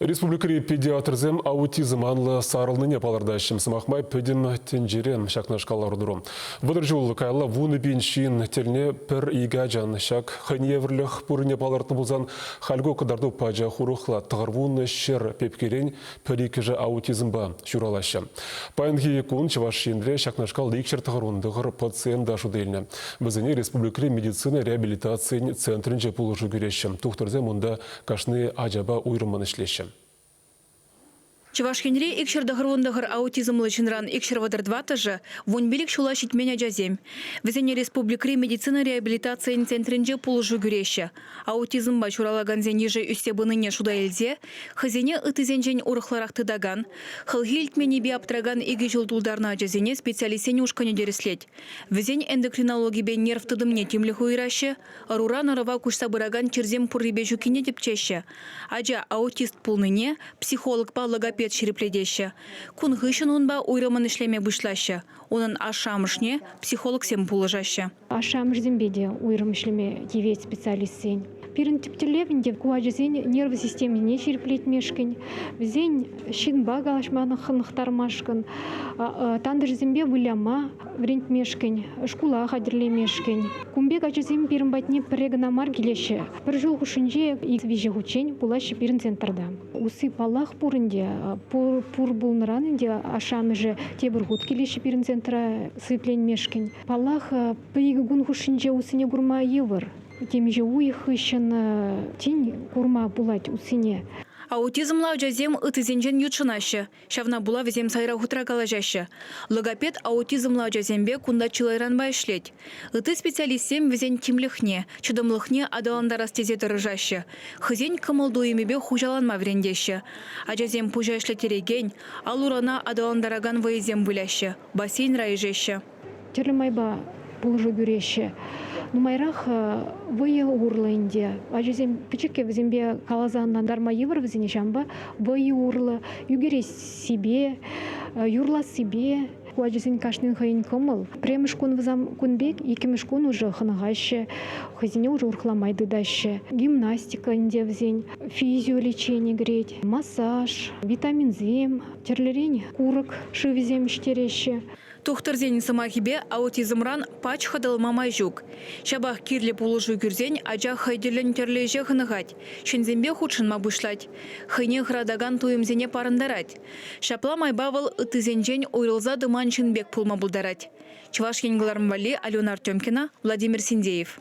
Республикӑри педиатрсем аутизм анлӑ сарӑлнине палӑртаҫҫӗ. Сӑмах май, пӗтӗм тӗнчере ҫакнашкал лару-тӑру. Вӑтӑр ҫул каялла вунӑ пин ҫын тӗлне пӗр икӗ ачан ҫак хӑйне евӗрлӗх пуррине палӑртнӑ пулсан, халь ку кӑтарту пачах урӑхла. Тӑхӑрвуннӑ ҫӗр пепкерен пӗр-иккӗшӗ аутизмпа ҫуралаҫҫӗ. Паянхи кун Чӑваш Енре ҫакнашкал икҫӗр тӑхӑрвун тӑхӑр пациент та шут илнӗ. Вӗсене республикӑри медицина реабилитацийӗн центрӗнче пулӑшу кӳреҫҫӗ. Тухтӑрсем унта кашни ачапа уйрӑммӑн ӗҫлеҫҫӗ. Чӑваш Енре икҫӗр тӑхӑр-вунтӑхӑр аутизмлӑ ҫынран икҫӗр вӑтӑр тӑваттӑшӗ, вунпилӗк ҫула ҫитмен ачасем. Вӗсене республикӑри медицина реабилитацийӗн центрӗнче пулӑшу кӳреҫҫӗ. Аутизмпа ҫуралакансен йышӗ ӳссе пынине шута илсе хӑйсене ыттисенчен урӑхларах тытакан, хӑлхи илтменнипе аптракан икӗ ҫул тултарнӑ ачасене специалистсен ушкӑнӗ тӗрӗслет. Вӗсен эндокринологипе нерв тытӑмне тимлӗх уйӑраҫҫӗ. Ӑруран ӑрӑва куҫса пыракан чирсем пуррипе ҫуккине тӗпчеҫҫӗ. Ача аутист пулнине психологпа логопед ҫирӗплетеҫҫӗ. Кун хыҫҫӑн унпа уйрӑммӑн ӗҫлеме пуҫлаҫҫӗ. Унӑн ашшӗ-амӑшне психологсем пулӑшаҫҫӗ. Ашшӗ-амӑшӗсемпе те уйрӑм ӗҫлеме тивет специалистсен. Пирӗн тӗп тӗллев ӗнтӗ ку ачасен нерва системине ҫирӗплетмешкӗн, вӗсен ҫынпа калаҫма хӑнӑхтармашкӑн, тантӑшӗсемпе выляма, вӗрентмешкӗн, шкула хатӗрлемешкӗн. Кун пек ачасем пирӗн патне пӗрре кӑна мар килеҫҫӗ. Пӗр ҫул хушшинче виҫӗ хутчен пулаҫҫӗ пирӗн центрта. Усси паллах пур ӗнтӗ. Пур, пур пулнӑран ӗнтӗ ашшӗ-амӑшӗ тепӗр хут килеҫҫӗ пирӗн центра сипленмешкӗн. Паллах, икӗ кун хушшинче уссине курма йывӑр. Темиҫе уйӑх хыҫҫӑн тин курма пулать уссине. Аутизмла ачасем ыттисенчен ютшӑнаҫҫӗ. Ҫавна пула вӗсем сайра хутра калаҫаҫҫӗ. Логопед аутизмлӑ ачасемпе кунта чылайранпа ӗҫлет. Ытти специалистсем вӗсен тимлӗхне, чӑтӑмлӑхне аталантарас тесе тӑрӑшаҫҫӗ, хӑйсен кӑмӑл-туйӑмӗпе хуҫаланма вӗрентеҫҫӗ. Ачасем пуҫа ӗҫлеттерекен, ал-урана аталантаракан вӑйӑсем выляҫҫӗ, бассейнра ишеҫҫӗ. тӗрлӗ майпа пулӑшу кӳреҫҫӗ. Нумайрах вӑйӑ урлӑ ӗнтӗ. Ачасем пӗчӗккӗ вӗсемпе каласа ӑнлантарма йывӑр вӗсене ҫавӑнпа вӑйӑ урлӑ ӳкерессипе, юрлассипе. Ку ачасен кашнин хӑйӗн кӑмӑл. Пӗрремӗш кун вӑсам кун пек, иккӗмӗш кун уже хӑнӑхаҫҫӗ, хӑйсене уже урӑхла май тытаҫҫӗ. Гимнастика ӗнтӗ вӗсен, физио лечени кӗрет, массаж, витаминсем, тӗрлӗрен курӑк шывӗсем ӗҫтереҫҫӗ. Тухтӑрсен сӑмахӗпе, аутизмран пач хӑтӑлма май ҫук. Ҫапах кирлӗ пулӑшу кӳрсен ача хӑй тӗллӗн тӗрлӗ ӗҫе хӑнӑхать, ҫынсемпе хутшӑнма пуҫлать, хӑйне хӑратакан туйӑмсене парӑнтарать. Ҫапла майпа вӑл ыттисенчен уйрӑлса тӑман ҫын пек пулма пултарать. Чӑваш Ен кӑларӑм валли Алена Артемкина, Владимир Синдеев.